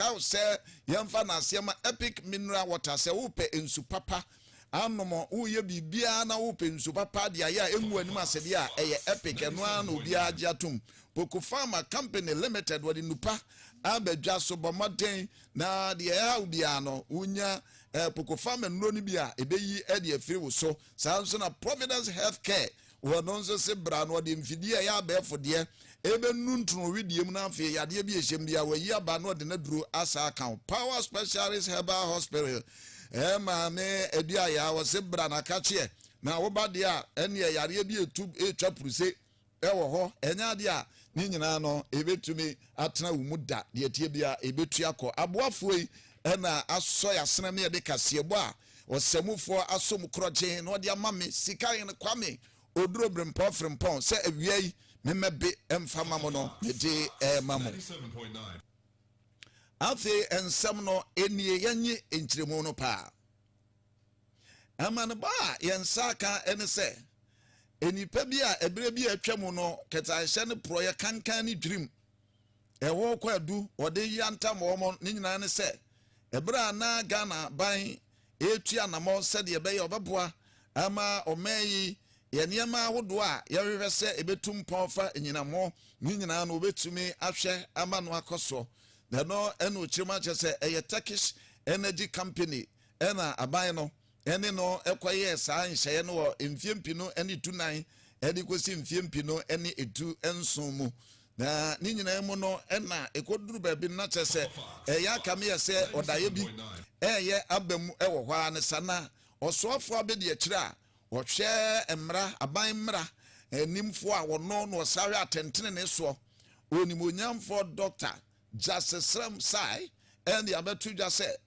Ɛwɔ sɛ yɛmfa no aseɛ ma Epic Mineral Water sɛ wopɛ nsu papa anom, woyɛ biribiara na wopɛ nsu papa de ayɛ a ɛngu anim ase deɛ a, ɛyɛ Epic, ɛno ara na obiara gye atom. Poku Pharma Company Limited, wɔde nnupa aba dwa so, bɔ mmɔden na deɛ ɛhaw biara no, wonya Poku Pharma nnuro no bi a ɛbɛyi de afiri wo so. Saa ara nso na Providence Health Care wɔ hɔ, ɛno nso se bra na wɔde mfidie a ɛyɛ abɛɛfo deɛ ɛbɛnu ntono wedeɛ mu na afei yadeɛ bi a ɛhyɛ mu biara wɔayi aba na wɔde no aduro asa aka wo. Power Specialist Herbal Hospital, ɛɛ maame Aduayaa, wɔse bra na ka kyeɛ na wo ba deɛ a ɛnneɛ yareɛ bi ɛtu ɛretwa puruse. wɔ hɔ. Ɛnyɛ adeɛ a ne nyinaa no ɛbɛtumi atena wo mu da. Deɛ ɛteɛ biara ɛbɛtu akɔ. Aboafoɔ yi na asɔ yɛasena me de kaseɛbɔ a ɔsamufoɔ asɔ mu korɔgyee na ɔde ama me, Sikahene Kwame Oduro Brempɔn Frempɔn, sɛ awia yi memmɛbe mfa mma mo no, mede rema mo. Afei nsɛm no nie, yɛnnye nkyerɛmu no paa. Amanebɔ a yɛn nsa aka ne sɛ, nnipa bi a ɛberɛ bi a atwam no kɛtɛanhyɛ ne porɔeɛ kankan ne dwirim ɛhɔ kwaadu wɔde yantam wɔn ne nyinaa ne sɛ ɛberɛ a na Ghana ban ɛretu anamɔ sɛdeɛ ɛbɛyɛ ɔbɛboa ama ɔman yi yɛ nneɛma ahodoɔ a yɛhwehwɛ sɛ ɛbɛtu mpɔn fa nyinam ho ne nyinaa no wɔbɛtumi ahwɛ ama no akɔ soɔ ɛno ɛna ɔkyerɛ mu akyɛ sɛ ɛyɛ Turkish Energy Company Ɛnna aban no ne no kɔyɛɛ saa nhyehyɛeɛ no wɔ mfeɛ mpenu ne tu nan de kɔsi mfeɛ mpenu ne etu nson mu. Na ne nyinaa mu no, na ɛkɔduru baabi no, na kyerɛ sɛ ɛyɛ aka me yɛ sɛ ɔdaeɛ bi reyɛ aba mu wɔ hɔ ara ne saa. Na ɔsoafoɔ abɛdi akyire a ɔhwɛ mmara, aban mmara nimfoɔ a ɔno na ɔsahwɛ atɛntenenee soɔ, onimuonyamfoɔ Dɔkta Justice Srem Sai, de abɛto dwa sɛ,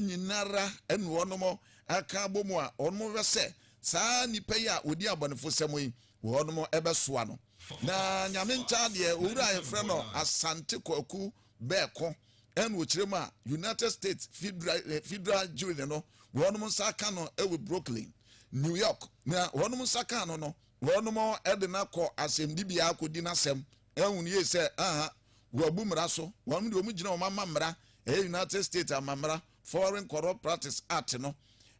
nyinara na wɔnom aka abɔmu a wɔnom hwɛ sɛ saa nnipa yi a wɔdi abɔnefosɛm yi wɔnom bɛsoa no. Na Nyame nkyɛa deɛ owura a yɛfrɛ no Asante Kwaku Bɛɛko na ɔkyerɛ mu a United States Federal Jury no wɔnom nsa aka no wɔ Brooklyn, New York. Na wɔnom nsa kaa no no wɔnom de no akɔ asɛmdibea akɔdi n'asɛm ahunu yie sɛ aha wɔabu mmara so, wɔnom deɛ wɔn gyina wɔn ama mmara, ɛyɛ United States amammara, Foreign Corrupt Practice Act no,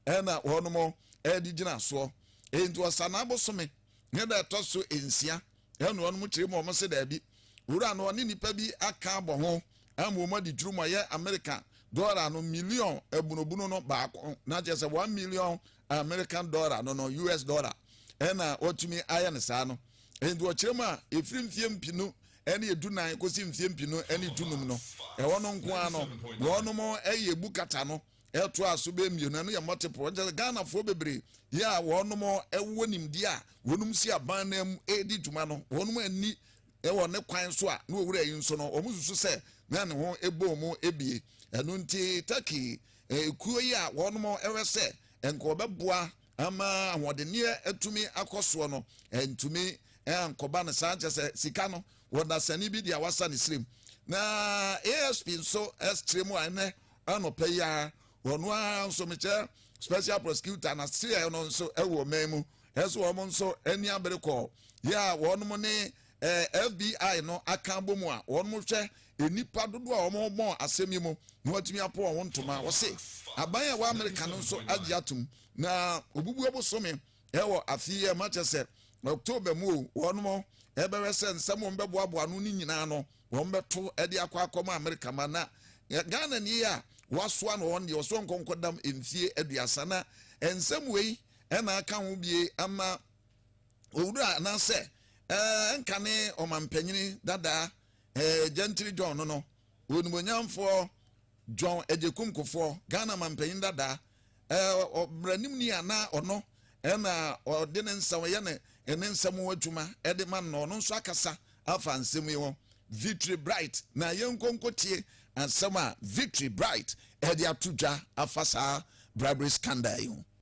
ɛna wɔnom ɛde gyina soɔ. Enti ɔsanaa bosome ne da ɛtɔ so nsia, ɛna wɔnom kyerɛ mu wɔn se daabi, wura no ɔne nnipa bi aka abɔ ho ama wɔn adi dwuru ma yɛ Amerika dɔla no miliɔn abunobunu no baako, na kyerɛ sɛ one million American dollar no no, US dollar, ɛna wɔtumi ayɛ no saa no. Enti ɔkyerɛ mu a, ɛfiri mfeɛ mpinu ɛne edu nan kɔsi mfeɛ mpinu ɛne du num no, ɛhɔ no nko ara no, na ɔnom ɛyɛ ebu kata no ɛto a so bɛyɛ mmienu, ɛno yɛ multiple. Ɛnkyɛ sɛ Ghanafoɔ bebree yɛ a wɔnom ɛwɔ nimdeɛ a wɔnom si aban no mu ɛredi dwuma no, wɔnom ani ɛwɔ ne kwan so a na ɔwura yi nso no, wɔn susu sɛ na ne ho ɛbɔ mu ɛbie. Ɛno nti Turkey Ekuo yi a wɔn hwɛ sɛ nka wɔbɛboa ama ahoɔdenneɛ atumi akɔ soɔ no antumi ankɔba no saa kyɛ sɛ sika no wɔ dasani bi deɛ wasa ne srem na ASP nso ɛskyerɛ mu a ɛnɛ anɔpɛ yi ara ɔno ara nso mekyɛ special prosecutor na seɛ no nso ɛwɔ man mu ɛso wɔn nso ani abere kɔɔ yɛ a wɔn ne Ɛɛ FBI no aka abɔ mu a wɔnom hwɛ nnipa dodoɔ a wɔnom bɔɔ asɛm yi mu na wɔatumi apo wɔn ntoma. Wɔse aban a ɛwɔ Amerika no nso agye atom na wɔbubu ɔbosome ɛwɔ afe yi a ɛma kyɛ sɛ October mu o wɔnom ɛbɛhwɛ sɛ nsɛm wɔn bɛboaboa ano no nyinaa no wɔn bɛto ɛde akɔ akɔ ma Amerika ma na Ghana nie a wasoa no wɔn deɛ wɔso wɔn nkɔnkɔdam mfie aduasa na nsɛm wei ɛna aka ho bie ama Owura anaasɛ ɛnkane ɔmampanyini dada Gentry John no no, Onimuonyamfoɔ John Agyekum Kufour, Ghana mampanyini dada, ɔbranimni a na ɔno na ɔde ne nsɛm yɛ ne nsɛm ho adwuma de ma no, ɔno nso akasa afa nsɛm yi ho. Victory Bright, na yɛnkɔ nkɔtie asɛm a Victory Bright de ato dwa afa saa bribery scandal yi ho.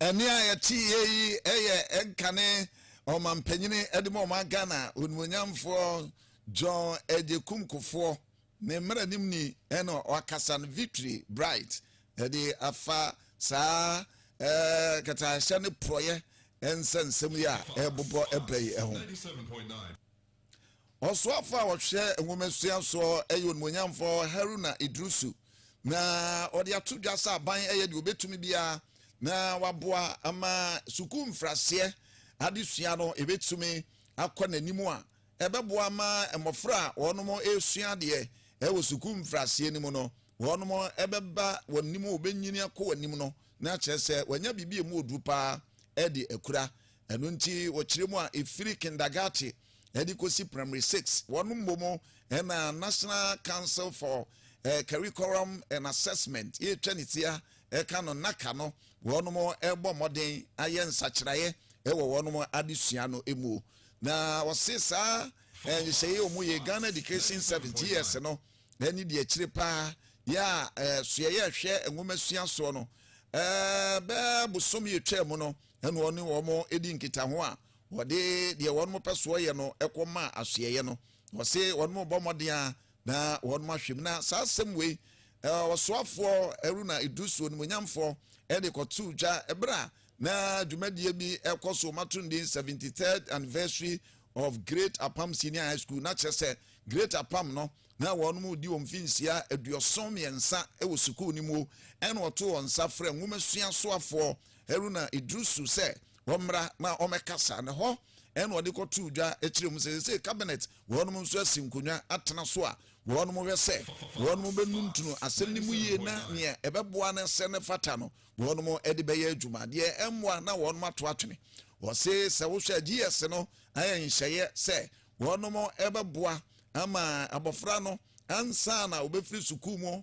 Ɛnne a yɛteeɛ yi yɛ nkane ɔmampanin de ma ɔman Ghana, onimuonyamfoɔ John Agyekum Kufuor, ne mmaranimni na ɔakasa no Victory Bright de afa saa katahyɛ ne porɔeɛ nsɛnsɛm yi a ɛrebobɔ ba yi ho. Ɔsoafo a ɔhwɛ nwomasua so yɛ Onimonyamfo Haruna Iddrisu, na ɔde ato dwa sɛ aban yɛ deɛ ɔbɛtumi biara na waboa ama sukuu mfraseɛ adesua no ɛbɛtumi akɔ n'anim a ɛbɛboa ma mmɔfra a wɔn ɛresua adeɛ ɛwɔ sukuu mfraseɛ no mu no wɔn ɛbɛba wɔn anim wɔbɛnyini akɔ wɔn anim no na kyerɛ sɛ wɔanya biribi a ɛmu ɔduru paa ɛde akura Ɛno nti wɔkyerɛ mu a ɛfiri kindagate de kɔsi primary six, wɔn mmom na National Council for Curriculum and Assessment, yɛtwa ne ti a ɛka no, NACA, no, wɔn rebɔ mmɔden ayɛ nsakyeraeɛ wɔ wɔn adesua no mu. Na wɔse saa nhyehyɛeɛ a wɔyɛ yi, Ghana Education Service, GS, no ne deɛ akyire pa ara yɛ a ɛsoɛeɛ a ɛhwɛ nwomasua soɔ no, bɛɛ bosome a ɛtwaa mu no, ɛnna ɔne wɔn dii nkitaho a wɔde deɛ wɔn pɛ soɔ yɛ no kɔ maa asoɛeɛ no. Wɔse wɔn bɔ mmɔden a na wɔn ahwɛ mu. Na saa asɛm wei ɔsoafoɔ Haruna Iddrisu onimuonyamfoɔ de kɔtoo dwa berɛ a na dwumadie bi kɔ so mato ndin 73rd anniversary of Great Apam Senior High School na kyerɛ sɛ Great Apam no na wɔn di wɔn mfinhyia aduɔson mmiɛnsa wɔ sukuu no mu ɛna ɔto wɔn nsa frɛ nwomasua soafoɔ Haruna Iddrisu sɛ ɔmmra na ɔmmɛkasa, na ɛhɔ na ɔde kɔtoo dwa kyerɛɛ mu sɛ seesei Cabinet wɔnom nso asi nkonnwa atena so a wɔnom hwɛ sɛ wɔnom bɛnuntunu asɛm no mu yie na nea ɛbɛboa no sɛ no fata no wɔnom de bɛyɛ adwuma, deɛ ɛmmoa na wɔnom ato atwene. Ɔse sɛ wohwɛ a GS no ayɛ nhyɛeɛ sɛ wɔnom bɛboa ama abɔfra no ansa na ɔbɛfiri sukuu mu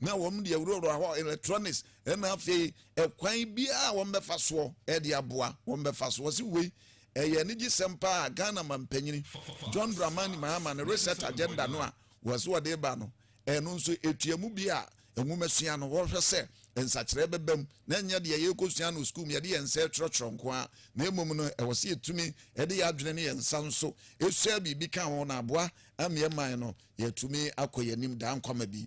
Na wɔn de awurawura hɔ, electronics, ɛna afei ɛkwan biara a wɔn bɛfa soɔ ɛde aboa wɔn bɛfa so. Wɔsi wei ɛyɛ anigye sɛm paa a Ghana manpanyini John Dramani Mahama ne research agenda no a wɔsi wɔde reba no ɛno nso etua mu bi a nwomasua no wɔhwɛ sɛ nsakyeraɛ bɛba mu na ɛnyɛ deɛ yɛrekɔsua no sukuu mu yɛde yɛn nsa ɛtwerɛtwerɛ nko ara na mmom no ɛwɔ sɛ yɛtumi ɛde yɛn adwene ne yɛn nsa nso ɛsua biribi ka ho na aboa ameɛ man no yɛtumi akɔ yɛn anim daa nkwama bi.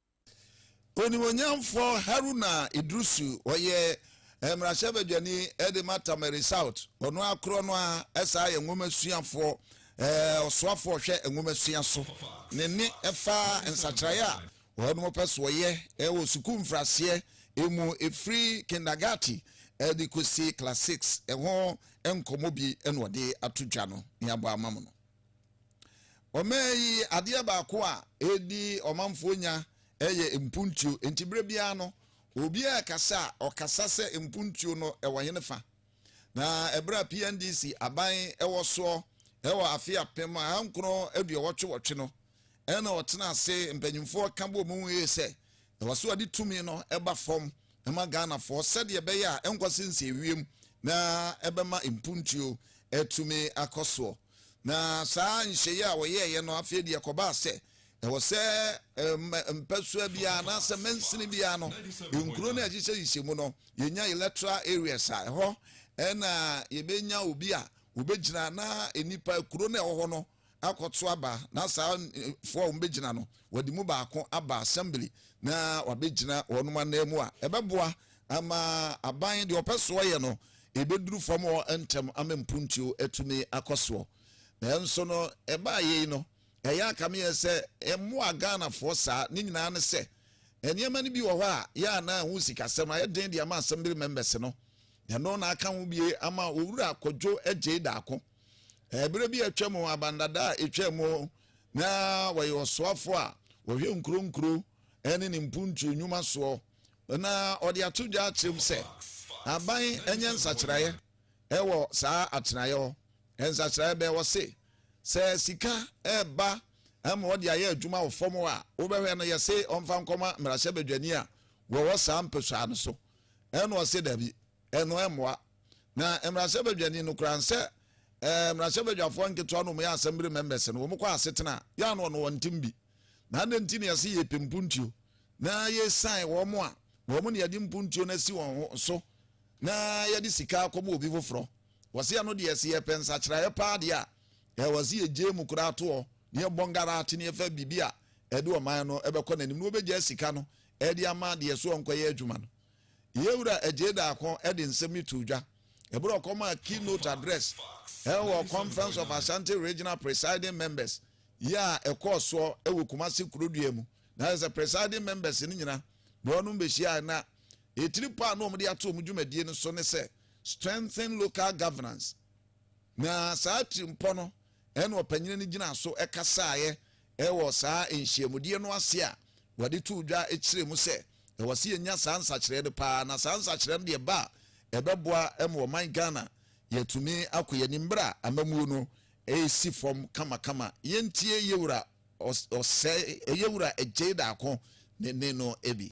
Onimuonyamfoɔ Haruna Iddrisu, ɔyɛ mmarahyɛbadwani de ma Tamale South, ɔno ara korɔ no ara san yɛ nwomasuafoɔ, ɔsoafoɔ ɔhwɛ nwomasua so. Ne nne fa nsakyeraeɛ a wɔnom pɛ so wɔyɛ wɔ sukuu mfraseɛ mu ɛfiri kindagati de kɔsi class six ho nkɔmmɔ bi na ɔde ato dwa no, ne abɔ ama mo no. Ɔman yi adeɛ baako a ɛdi ɔmanfoɔ nya yɛ mpuntuo. Nti berɛ biara no, obiara rekasa a, ɔkasa sɛ mpuntuo no wɔ hene fa. Na ɛberɛ a PNDC aban wɔ soɔ wɔ afe apem ahankron aduɔwɔtwe-wɔtwe no, ɛna ɔtena ase, mpanimfoɔ ka bɔɔ mu yie sɛ, ɛwɔ sɛ ɔde tumi no ba fam. ma Ghanafoɔ sɛdeɛ ɛbɛyɛ a ɛnkɔ sɛ nsiewiam na ɛbɛma mpuntuo atumi akɔ soɔ. Na saa nhyeeɛ a wɔyɛeɛ no, afei deɛ ɛkɔbaa sɛ ɛwɔ sɛ mpasua biara anaasɛ mansini biara no, nkuro no a ɛhyehyɛhyehyɛ mu no, yɛnya electoral areas a ɛhɔ na yɛbɛnya obi a wɔbɛgyina na nnipa kuro no a ɛwɔ hɔ no, akɔto aba na saa foɔ a wɔbɛgyina no wɔde mu baako aba assembly na wabɛgyina wɔn anan mu a ɛbɛboa ama aban deɛ ɔpɛ soɔ yɛ no ɛbɛduru fam hɔ ntɛm ama mpuntuo atumi akɔ soɔ nanso no ɛbaa yei no ɛyɛ akameɛ sɛ ɛmmoa Ghanafoɔ saa ne nyinaa ne sɛ nneɛma no bi wɔ hɔ a yɛ a na ɛho sikasɛm ayɛ den de ama assembly members no ɛno na aka ho bie ama owura kɔdwo agyei daako Bere bi a atwam, aban dada a etwaam hɔ na ɔyɛ ɔsoafo a ɔhwɛ nkuro nkuro ne ne mpuntuo nnwuma soɔ. Na ɔde ato dwa akyerɛ mu sɛ aban nyɛ nsakyeraeɛ wɔ saa atenaeɛ hɔ. Nsakyeraeɛ bɛn? Ɔse, Sɛ sika reba ma wɔde ayɛ adwuma wɔ fam hɔ a, wobɛhwɛ no yɛse ɔmfa nkɔma mmarahyɛbadwani a wɔwɔ saa mpasua no so? Ɛna ɔse dabi. Ɛno ɛmmoa. Na mmarahyɛbadwani no koraa nsɛ ɛɛ mmarahyɛbadwafoɔ nketewa no wɔyɛ assembly members no wɔkɔ asetena a, yɛ a na ɔno wɔntem bi. Na adɛn nti na yɛse yɛpɛ mpuntuo na yɛsan wɔn a wɔn na yɛde mpuntuo no asi wɔn ho so na yɛde sika akɔma obi foforɔ? Wɔse ɛno deɛ se yɛpɛ nsakyeraeɛ paa deɛ a, ɛwɔ se yɛgyae mu koraa toɔ na yɛbɔ ngarate na yɛfa biribi a ɛde ɔman no ɛbɛkɔ n'anim na wɔbɛgyae sika no ɛde ama deɛ so ɔnkɔyɛ adwuma no. Yɛn Wura Adjei Darko de nsɛm yi too dwa bere a ɔkɔmaa keynote address wɔ Conference of Ashanti Regional Presiding Members yi a ɛkɔɔ soɔ wɔ Kumasi Kurodua mu. Na kyerɛ sɛ Presiding Members no nyina na wɔnom bɛhyiaeɛ na ɛtiri pɔ a na wɔde ato wɔn dwumadie no so ne sɛ Strengthen Local Governance. Na saa tirimpɔ no na ɔpanyini no gyinaa so kasaeɛ Wɔ saa nhyiamudeɛ no ase a wɔde too dwa kyerɛɛ mu sɛ ɛwɔ sɛ yɛnya saa nsakyeraɛ no pa ara, na saa nsakyeraɛ no deɛ ba a ɛbɛboa ma ɔman Ghana yɛatumi akɔ yɛn anim berɛ a amammuo no resi fam kamakama. Yɛntie Yɛwura Osei, Yɛwura Gyei Darko ne nne no bi.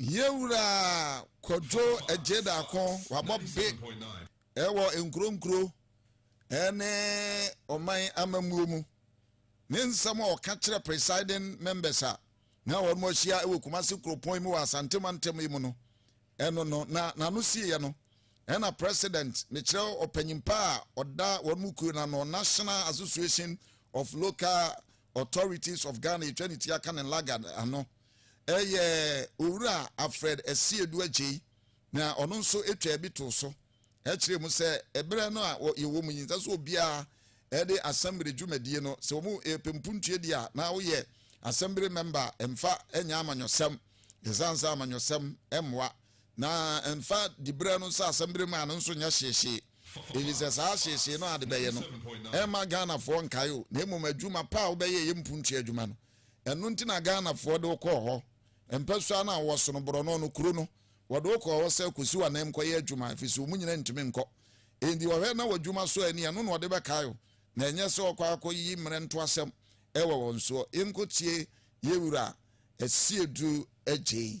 Yɛwura Kwadwo Agyedaako wabɔ be ɛwɔ nkuronkuro ɛne ɔman amammuo mu. Ne nsɛm a ɔka kyerɛ presiding members a na wɔn ahyia ɛwɔ Kumasi kuropɔn mu wɔ Asante mantam yi mu no ɛno no na n'ano siiɛ no ɛna president mekyerɛ ɔpanyimpa a ɔda wɔn mu kuo no ano National Association of Local Authorities of Ghana atwa ne ti aka ne lagad ano. Ɛyɛ Owura Alfred Asiedu Agyei na ɔno nso twaa bi too so kyerɛɛ mu sɛ ɛberɛ no a yɛwɔ mu yi nsɛ sɛ obiara de asɛmbere dwumadie no sɛ wɔn ɛpɛ mpuntuo di a na woyɛ asɛmbere mɛmba a ɛmfa nyɛ amanyɔsɛm ɛsiane sɛ amanyɔsɛm mmoa Na mfa diberɛ no nhyɛ asɛmdire mu a ɛno nso nyɛ hyeehyee, ɛfiri sɛ saa hyeehyee no a de bɛyɛ no, ɛremma Ghanafoɔ nkae wo, na mmom adwuma pa a wobɛyɛeɛ mpuntua adwuma no. Ɛno nti na Ghanafoɔ de wo kɔɔ hɔ. Mpasua no a wowɔ sono borɔno no, kuro no, wɔde wo kɔɔ hɔ sɛ kɔsi w'ananmu kɔyɛ adwuma, ɛfiri sɛ wɔn nyinaa ntumi nkɔ. Enti wɔhwɛ na w'adwuma sɔ ani, ɛno na wɔde bɛkae wo, na ɛnyɛ sɛ wɔkɔ akɔyi mmerɛ ntoasɛm wɔ wɔn soɔ. Yɛnkɔtie yɛn Wura Asiedu Adjei.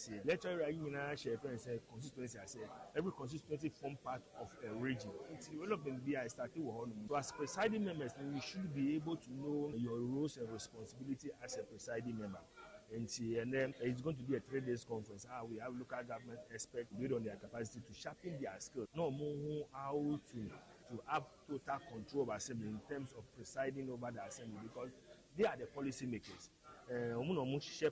aseɛ. Lecture area yi nyinaa hyɛ yɛfrɛ no sɛ constituency aseɛ. Every constituency form part of a region. Nti development bi a ɛstate wɔ hɔ nom. So as presiding members no you should be able to know your roles and responsibility as a presiding member. Nti ɛnɛ it's going to be a three days conference a ah, we have local government experts based on their capacity to sharpen their skills. Na ɔmo ho how to to have total control of assembly in terms of presiding over the assembly because they are the policy makers. Ɔmo eh, na ɔmo hyehyɛ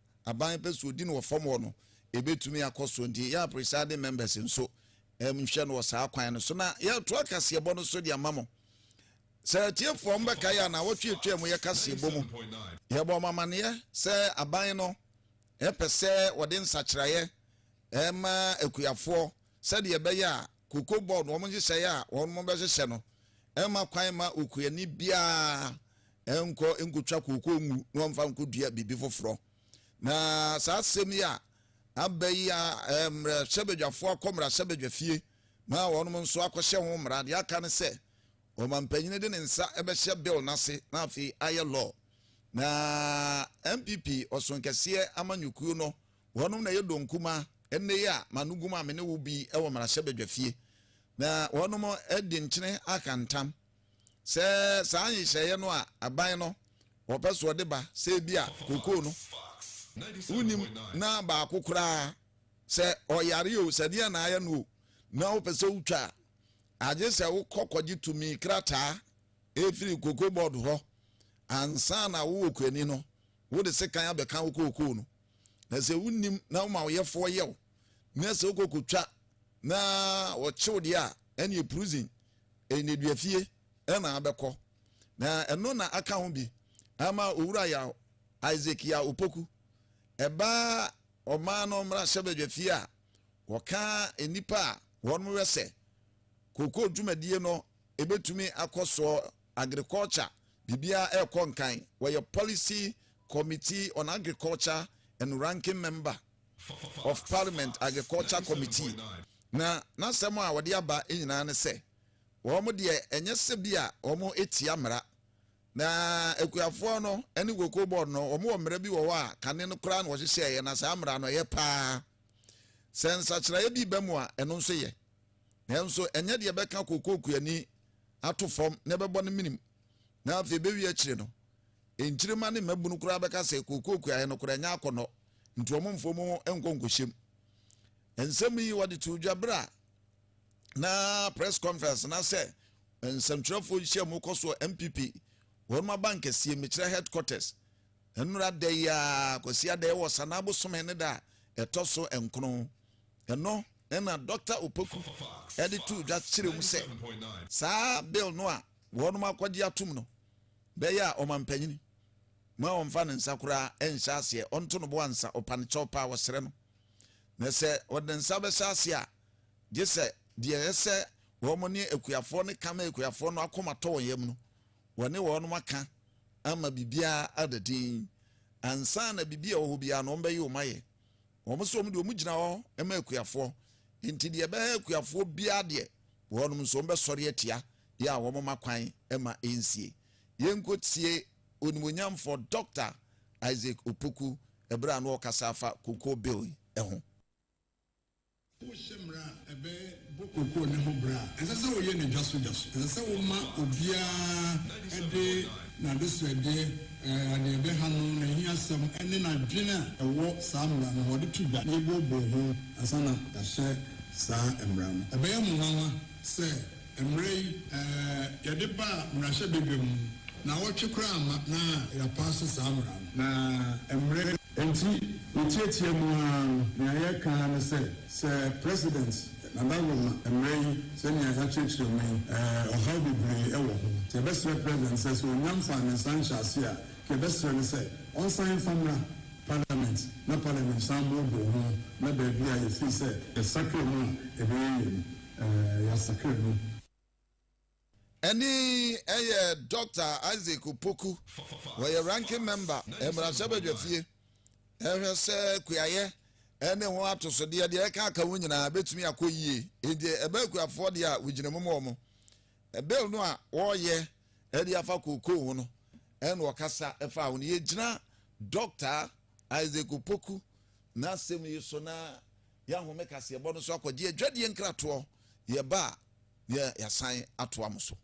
aban pɛ sɛ ɔdi no wɔ fam hɔ no, ɛbɛtumi akɔ so. Nti yɛ a presiding members nso nhwɛ no wɔ saa kwan no so. Na yɛretoa kaseɛbɔ no so de ama mo. Sɛ atiefoɔ mo bɛkae a, nawɔtwe atwaa mu yɛ kaseɛbɔ mu. Yɛbɔɔ mo amaneɛ sɛ aban no pɛ sɛ wɔde nsakyeraeɛ ma akuafoɔ sɛdeɛ ɛbɛyɛ a Cocoa Board wɔn nhyehyɛeɛ a wɔn bɛhyehyɛ no mma kwan mma okuani biara Ɛnkɔ nkotwa kooko ngu na ɔmfa nkodua biribi foforɔ. Na saa asɛm yi a aba yi a mmarahyɛbadwafoɔ akɔ mmarahyɛbadwafie ma wɔnom nso akɔhyɛ ho mmara. Deɛ aka ne sɛ ɔmampanin de ne nsa bɛhyɛ bill no ase na afei ayɛ law. Na NPP ɔsonkɛseɛ amanyɔkuo no wɔnom na ɛyɛ donkuma ɛnnɛ yi a manogum a me ne wo bi wɔ mmarahyɛbadwafie. Na wɔnom de nkyene aka ntam. Sɛ saa nhyehyɛeɛ no a aban no wɔpɛ so wɔde ba sɛ ebi a kokoo no wonim na baako koraa sɛ ɔyare o sɛ deɛ na ayɛ no o na wopɛ sɛ wotwa a agye sɛ wokɔ kɔgye tumi krataa ɛfiri koko board hɔ ansa na wowɔ kuani no wode sekan abɛka wo kookoo no na sɛ wonim na woma woyɛfoɔ yɛw na sɛ wokɔkɔtwa na wɔkyew deɛ a ɛneɛ prison nneduafie na abɛkɔ, na ɛno na aka ho bi ama Owura Yaw Isaac Yaw Opoku, ɛba ɔman no mmarahyɛbadwafie a wɔka nnipa a wɔn wɛ sɛ kookoo dwumadie no ɛbɛtumi akɔ soɔ, agriculture, biribiara ɛrekɔ nkan, wɔyɛ Policy Committee on Agriculture and Ranking Member of Parliament Agriculture Committee na n'asɛm a ɔde aba nyinaa ne sɛ, wɔn deɛ ɛnyɛ sɛ bi a wɔtia mmara, na akuafoɔ no ne Cocoa Board no wɔwɔ mmara bi wɔ hɔ a kane no koraa na wɔhyehyɛeɛ na saa mmara no ɛyɛ paa. Sɛ nsakyeraeɛ bi ba mu a ɛno nso yɛ, nanso ɛnyɛ deɛ ɛbɛka cocoa kuani ato fam na ɛbɛbɔ no menim na afei ɛbɛwie akyire no, nkyirimma ne mmabunu koraa bɛka sɛ cocoa kuaeɛ no koraa ɛnyɛ akɔnnɔ. nti wɔn mfa wɔn ho nkɔ nkɔhyɛm. Nsɛm yi wɔde too dwa berɛ a na press conference na sɛ nsɛmtwerɛfoɔ nhyiamu kɔ soɔ NPP wɔn abankɛseɛ mekyerɛ headquarters nnora da yi a Kwasi Adɛɛ wɔ Sanaa bosome ne da a ɛtɔ so nkono ɛno ɛna Dr. Opoku ɛde too dwa kyerɛ mu sɛ saa bill no a wɔn akɔgye atom no bɛyɛ a ɔmampanyini Mma ɔmmfa ne nsa koraa nnhyɛ aseɛ, ɔnto no bo ansa, ɔpa no kyɛw pa a wɔsrɛ no. Na sɛ ɔde ne nsa bɛhyɛ aseɛ a, gye sɛ deɛ ɛyɛ sɛ wɔn ne akuafoɔ no ka ma akuafoɔ no akoma tɔ wɔn yam no, wɔne wɔn aka ama biribiara ada dinn. Ansa na biribi a ɛwɔ hɔ biara no, wɔbɛyi wɔn ayɛ. Wɔn nso, wɔn deɛ, wɔgyina hɔ ma akuafoɔ. Enti deɛ ɛbɛha akuafoɔ biara deɛ, wɔn nso wɔbɛsɔre atia, yɛ a wɔmma kwan mma ɛnsie. Yɛnkɔtie Onimuonyamfoɔ Doctor Isaac Opoku ɛberɛ a na ɔrekasa afa Cocoa Bill yi ho. Wohyɛ mmara a ɛbɛ bɔ cocoa no ho bra a, ɛnsɛ sɛ woyɛ no dwaso dwaso. Ɛsɛ sɛ wo ma obiara de n'adesoɛdeɛ, deɛ ɛbɛ ha no, n'ahiasɛm ne n'adwene a ɛwɔ saa mmara no ho, ɔde to dwa na yɛboɔboɔ ho ansa na yɛahyɛ saa mmara no. Ɛbɛyɛ mo nwanwa. Sɛ mmerɛ yi yɛde ba mmarahyɛbadwam no, naawɔtwe koraa mma na yɛapaase saa mmara no. Na mmerɛ. Enti yɛtiatia mu ara no, nea yɛreka ara ne sɛ, sɛ President Nana Roma mmerɛ yi, sɛnea yɛakyerɛkyerɛ mu yi, ɔhaw bebree wɔ ho. Nti yɛbɛsrɛ President sɛ, sɛ ɔnya mfaa ne nsa nhyɛaseɛ a, nka yɛbɛsrɛ no sɛ ɔnsan mfa mmra. Parliament na Parliament san booboo ho na baabi a yɛfiri sɛ yɛsakra mu a ɛbɛyɛ yie no, yɛasakra mu. Ɛne yɛ Dɔkta Isaac Opoku, ɔyɛ Ranking Member mmarahyɛbadwafie, ɛhwɛ sɛ kuayɛ ne ho atosodeɛ deɛ ɛka aka ho nyinaa bɛtumi akɔ yie. Enti ɛbɛ akuafoɔ deɛ a wɔgyina mu ma wɔn. Bill no a wɔreyɛ Ɛde afa kookoo ho no, ɛna ɔkasa faa ho no, yɛgyina Dɔkta Isaac Opoku n'asɛm yi so na yɛahome kaseɛbɔ no so akɔgye adwadie nkratoɔ, yɛba a na yɛasan atoa mo so.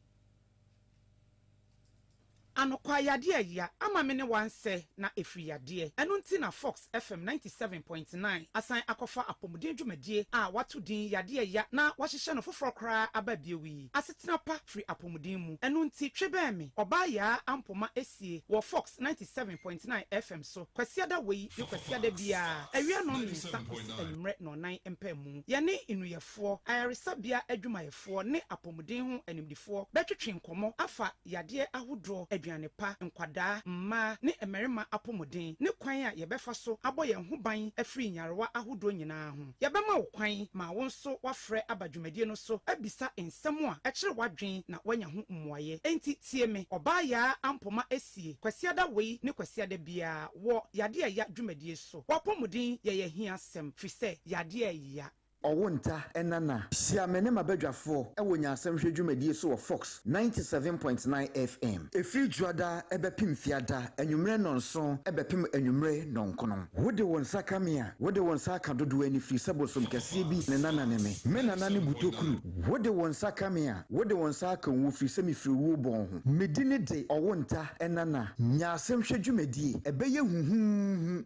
Anokwa yadeɛ ayia ama me ne wansɛ na ɛfiri yadeɛ ɛno nti na fox FM ninety seven point nine asan akɔfa apɔmuden dwumadie a wɔato din Yadeɛ Ya na wɔahyehyɛ no foforɔ koraa aba bio yi. Asetena pa firi apɔmuden mu. Ɛno nti twe bɛn me, Ɔbaa Yaa Ampoma Esie wɔ Fox ninety seven point nine FM so Kwasiada wei ne Kwasiada biara awia nnɔn mmiɛnsa kɔsi anwummerɛ nnɔnnan mpaamu. Yɛne nnuyɛfoɔ, ayaresabea adwumayɛfoɔ ne apɔmuden ho animdefoɔ bɛtwetwe nkɔmmɔ afa yadeɛ ahodoɔ, aduane pa, nkwadaa, mmaa ne mmarima apɔmuden, ne kwan a yɛbɛfa so abɔ yɛn ho ban afiri nyarewa ahodoɔ nyinaa ho. Yɛbɛma wo kwan ma wo nso woafrɛ aba dwumadie no so abisa nsɛm a ɛkyere w'adwene na woanya ho mmuaeɛ. Enti tie me, Ɔbaa Yaa Ampoma Asie, Kwasiada wei ne Kwasiada biara wɔ Yadeɛ a Ɛya dwumadie so. W'apɔmuden yɛ yɛn ahiasɛm, firi sɛ yadeɛ a ɛya. Ɔwonta Nana, hyia me ne m'abadwafoɔ wɔ nyansahwɛ dwumadie so wɔ Fox ninety seven point nine FM. Ɛfiri Dwoada bɛpem Fiada anwummerɛ nnɔnson bɛpem anwummerɛ nnɔnkono. Wode wo nsa ka me a, wode wo nsa aka dodoɔ ani firi sɛ bosom kɛseɛ bi ne Nana ne me. Me Nana ne Butokuru. Wode wo nsa ka me a, wode wo nsa aka owuo firi sɛ mefiri owuo bɔn ho. Me dini de Ɔwonta Nana. Nyansahwɛ dwumadie. Ɛbɛyɛ huhuuhu.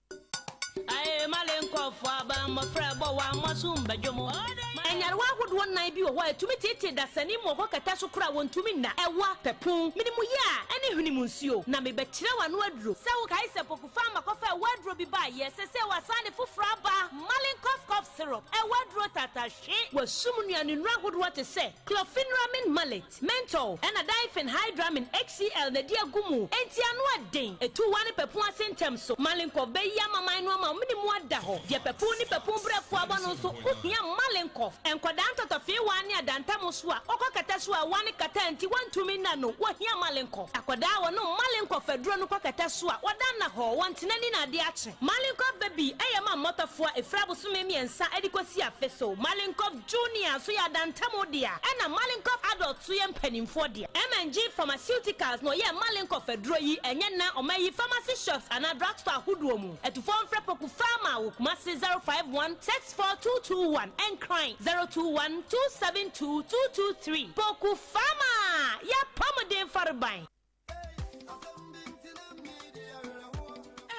Nyarewa ahodoɔ nnan bi wɔ hɔ a ɛtumi teetee dasani mu wɔ hɔ kɛtɛ so koraa a wɔntumi nna, ɛwa, pɛpuu, menemuyaa, ne hwene mu nsuo. Na mebɛkyerɛ wo ano aduro. Sɛ wokae sɛ Poku Farmer kɔfaa ɛwa aduro bi baeɛ a, sesei wasan de foforɔ aba, Malenkov Cough Syrup, ɛwa aduro tatahwe. W'asum nnuanennuro ahodoɔ te sɛ, Chlorpheniramine Maleate. Menthol na diphenhydramine, HCl, na ɛde agu mu. Enti ano yɛ den. Etu wa ne papu ase ntɛm so. Malenkov bɛyi amaman no ama wɔn ne mu ada hɔ. Deɛ papu ne papu brɛfoɔ abɔ no nso ho hia Malenkov. Nkwadaa ntɔtɔfeewaa ne adantamu so a wɔkɔkata so a wa ne kata nti wɔntumi nna no, wɔhia Malenkov. Akwadaa a wɔnom Malenkov aduro no kɔkata so a wɔda nna hɔ, wɔn ntena ni na ade akye. Malenkov baby yɛ ma mmɔtɔfoɔ a ɛfiri abosome mmiɛnsa de kɔsi afe so. Malenkov. Junior nso yɛ adantamu dea, ɛnna Malenkov Adult nso yɛ mpanimfoɔ dea. MNG Pharmaceuticals na ɔyɛɛ Malenkov aduro yi, ɛnyɛ nnɛ a wɔayi pharmacy shops anaa drugstore ahodoɔ mu. Atufoɔ mfrɛ Poku Pharma wɔ Kumasi 051 64 221, Nkran 021 272 223. Poku Pharma, Yɛapɔ mo den Fareban!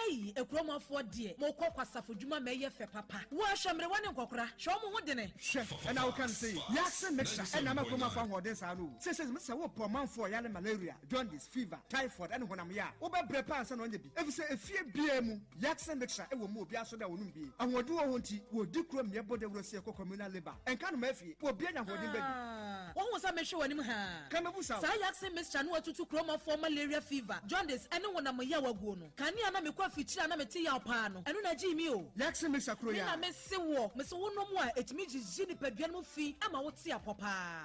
Ei, Akuromafoɔ deɛ, mokɔ kwasafo dwuma ma ɛyɛ fɛ papa. Woa hwɛ mmerewa ne nkɔkora, hwɛ wɔn ho dene. Hwɛ, ɛna wo ka no sɛ yei. Wiase mixture ɛna ama Akuromafoɔ ahoɔden saa no o. Seisei me sɛ wo pɛ ɔmanfoɔ yare malaria, jaundice, fever, typhoid ɛne honam yɛ a, wo bɛ brɛ paa ansa na wanya bi. Efisɛ efie biara mu. Yaxin mixture wɔ mu obiara so dɛ ɔnom bi. Ahoɔden wɔ ho nti wɔdi kuro mmea bɔ dawuro sie kɔ communal labour. Nka no ma afie. Wɔ bia nya ahoɔden ba bi. Aah wohu sɛ mehwe w'anim haa. Ka mɛbu sa o. Saa yaxin mixture no atutu kuromɔfoɔ malaria fever, jaundice ɛne wonam yaw aguo no. Kane a na mekɔ afikyire a na mete yaw paa no, ɛno na ɛgyee me o. Yaxin mixture kuro Me na yaa. mese woɔ. Mese wonom a ɛtumi gyigye nipadua no mu fi ma wote apɔ paa.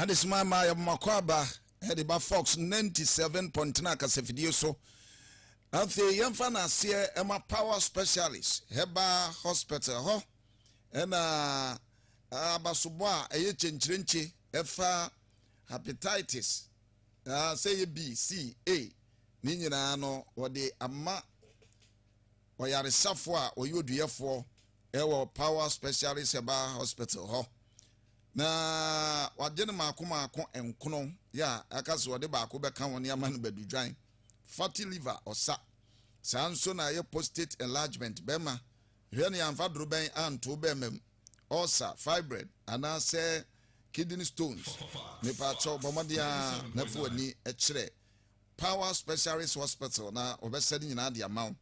Adesemma mmaa yɛ mo akwaaba de ba Fox ninety seven Pɔntena Kasafidie so. Afei yɛmfa no aseɛ ɛma Power Specialist Herbal Hospital hɔ ɛna abasobɔ a ɛyɛ kyenkyerenkye ɛfa hepatitis a sɛ yɛ B, C, A ne nyinaa no wɔde ama ɔyaresafoɔ a ɔyɛ oduyɛfoɔ ɛwɔ Power Specialist Herbal Hospital hɔ. Na wagye no mmaako mmaako nkono, ya, aka sɛ ɔde baako bɛka ho ne ama no badu dwan, fatty liver, ɔsa. Saa nso na ɛyɛ prostate enlargement, bɛrima, hwɛ nea amfa dorobɛn anto bɛrima mu, ulcer, fibroid, anaasɛ kidney stones. Mepaakyɛw, bɔ mmɔden ara na fa w'ani kyerɛ Power Specialist Hospital na wɔbɛsɛ ne nyinaa de ama wo.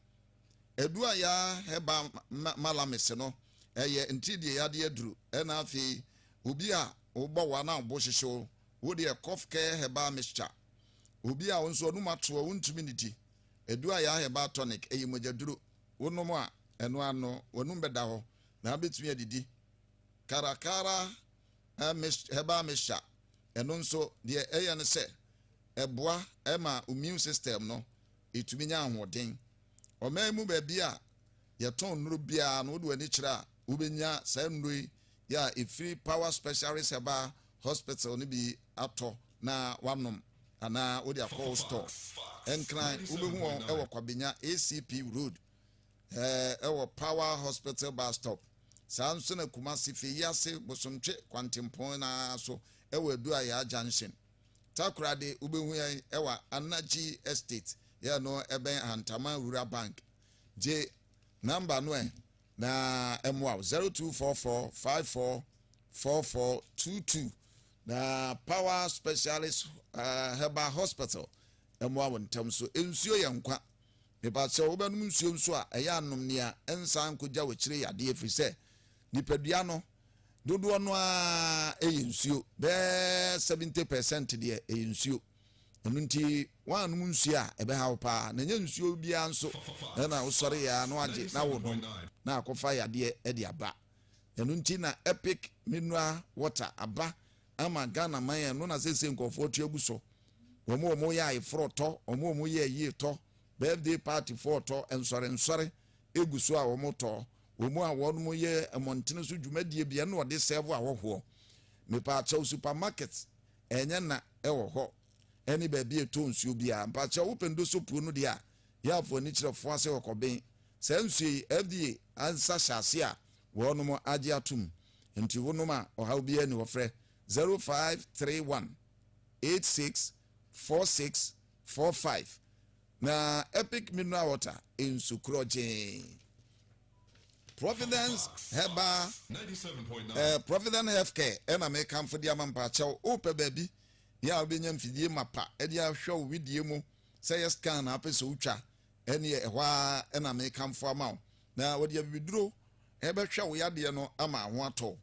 Aduru a yɛa Herbal Malamis no, ɛyɛ ntiridieyadeɛ aduru ɛna afei obi a wobɔ wo anaa wobo hyehye wo, wo deɛ Cough Care Herbal Mixture. Obi a wo nso w'anum ato a wontumi nnidi, aduru a yɛa Herbal Tonic, ɛyɛ mogyaduru, wonom a ɛno ara no w'anum bɛda hɔ na wobɛtumi adidi. Caracara Herbal Mixture, Ɛno nso, deɛ ɛyɛ ne sɛ, ɛboa ma immune system no tumi nya ahoɔden. Ɔman yi mu baabi a yɛtɔn nnuro biara no, wode w'ani kyerɛ a, wobɛnya saa nnuro yi a ɛfiri Power Specialist Herbal Hospital no bi atɔ na woanom anaa wode akɔ wo store. Nkran, wobɛhu wɔn wɔ Kwabenya, ACP Road. ɛɛ, wɔ Power Hospital bus stop. Saa nso na Kumasi fi yi ase Bosomtwe kwantempɔn no ara so wɔ Aduayaa junction. Takora de, wobɛhu yɛn wɔ Anagye Estate, yɛ no ɛbɛn Ahantaman Rural Bank. Gye number no ɛ na ɛmmoa wo, 0244 54 4422. Na Power Specialist ɛɛ, Herbal Hospital mmoa wo ntɛm so. Nsuo yɛ nkwa. Mepakyɛw, wobɛnom nsuo nso a, ɛyɛ a nom nea ɛnsan nkogyaw akyire yadeɛ ɛfiri sɛ, nipadua no dodoɔ no ara yɛ nsuo, bɛyɛ seventy per cent deɛ ɛyɛ nsuo. Ɛno nti woannom nsuo a, ɛbɛha wo pa ara. Na ɛnyɛ nsuo biara nso na wosɔreeɛ ara na woagye na worenom na akɔfa yadeɛ de aba. Ɛno nti na Epic Mineral Water aba ama Ghana man a ɛno na seesei nkurɔfoɔ te agu so. Wɔn a wɔyɛ ayeforɔ tɔ, wɔn a wɔyɛ ayie tɔ, birthday party foɔ tɔ, nsɔre nsɔre egu so a wɔtɔ, wɔn a wɔyɛ mmɔntene so dwumadie bi ɛna wɔde sɛɛvo ahɔhoɔ. Mepaakyɛw supermarket ɛnyɛ na ɛwɔ hɔ ɛne baabi a ɛtɔ nsuo biara. Mpaakyɛw wopɛ ndoso puo no deɛ a yɛafo ani kyerɛ foa sɛ ɔkɔben saa nsuo yi FDA ansa hyɛ ase a wɔn agye atom. Nti wo nom a ɔhaw biara nni hɔ frɛ 0531 86 46 45 na Epic Mineral Water nsu korɔgyee Providence Herbal eh, Providence Health Care ɛna eh, mekamfo de ama mpakyɛw wopɛ baabi yɛ a wobɛnya mfidie mapa ɛde ahwɛ wo wedie mu sɛ yɛ scan na apɛ sɛ wotwa Ɛnneɛ ɛhɔ ara na mekamfo ama wo, na wɔde abibiduro bɛhwɛ wo yadeɛ no ama ho atɔ wo.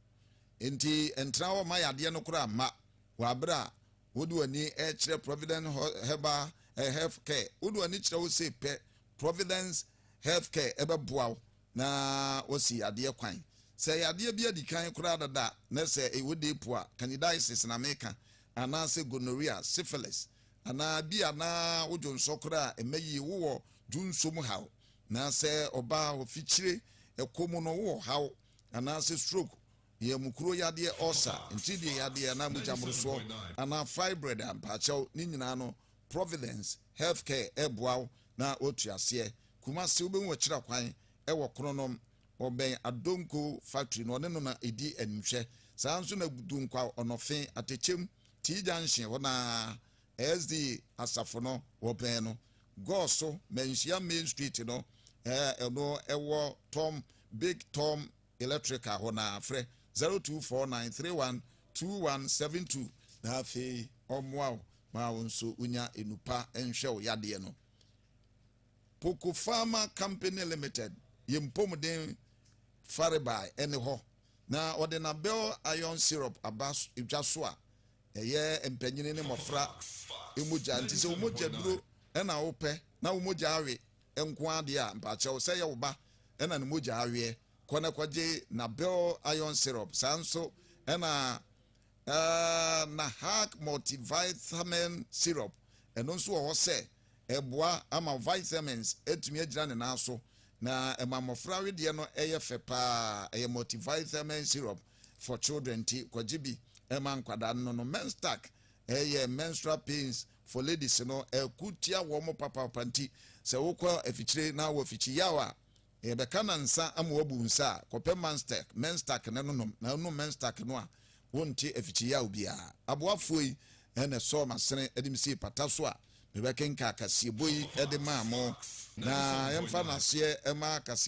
Enti ntena hɔ mma yadeɛ no koraa mma wo aberɛ a wode w'ani rekyerɛ Providence Herbal Health Care. Wode w'ani kyerɛ hɔ sei pɛ, Providence Health Care bɛboa wo na wɔasi yadeɛ kwan. Sɛ yadeɛ bi adi kan koraa dada a, na sɛ ɛwɔ deepu a, candidiasis na meka, anaasɛ gonorrhea, syphilis, Anaa ebia na wo dwonsɔ koraa mmɛ yie, wowɔ dwonsɔ mu haw. Anaasɛ ɔbaa ɔfikyire ɛkɔ mu no wowɔ haw, anaasɛ stroke, yamukuro yadeɛ, ɔɔsa, ntiridie yadeɛ anaa mogya mmorosoɔ, anaa fibroid a, mpaakyɛw, ne nyinaa no Providence Health Care reboa wo na woatu aseɛ. Kumasi, wobɛhu ɔkyerɛ kwan wɔ Kronom, ɔbɛn Adonko factory no, ɔne no na ɛdi animhwɛ. Saa ara nso na Dunkwa, Ɔnɔfe, Atɛkyɛm, T-Junction hɔ no ara, SDA asafo no wɔbɛn no, Gɔɔ so, Manhyia Main Street no a ɛno ɛwɔ Tom, Big Tom Electrical hɔ no ara, frɛ 0249312172 na afei wɔmmoa wo ma wo nso wonya enu pa nhwɛ wo yadeɛ no. Poku Pharma Company Limited, yɛn mpomuden farebae ɛne hɔ, Na ɔde Nabel iron syrup aba dwa so a ɛyɛ mpanyini ne mmɔfra mogya nti sɛ wo mogya duro na wo pɛ na wo mogya awe nko ara deɛ a mpakyɛw sɛ yɛ wo ba na ne mogya aweɛ kɔ na kɔgye Nabel iron syrup saa nso na Ahh na Hack Multivitamin Syrup, ɛno nso wɔ hɔ sɛ ɛboa ama vitamins atumi agyina ne nan so na ɛma mmɔfra wedeɛ no yɛ fɛ paa, ɛyɛ multivitamin syrup for children nti kɔgye bi ma nkwadaa no nonom. Menstack, ɛyɛ menstrual pains for ladies no, ɛko tia wɔn papapapa nti sɛ wokɔ afikyire na wowɔ afikyiyaw a, Yɛbɛka na nsa ama wabu nsa a, kɔpɛ Manstek, Menstak, na nonom. Na wonom Menstak no a, wonte afikyiyaw biara. Aboafoɔ yi na ɛsɔɔ m'asene de me sii pata so a mebɛkenkan kaseɛbɔ yi de maa mo. Na yɛmfa no aseɛ mma kaseɛbɔ no.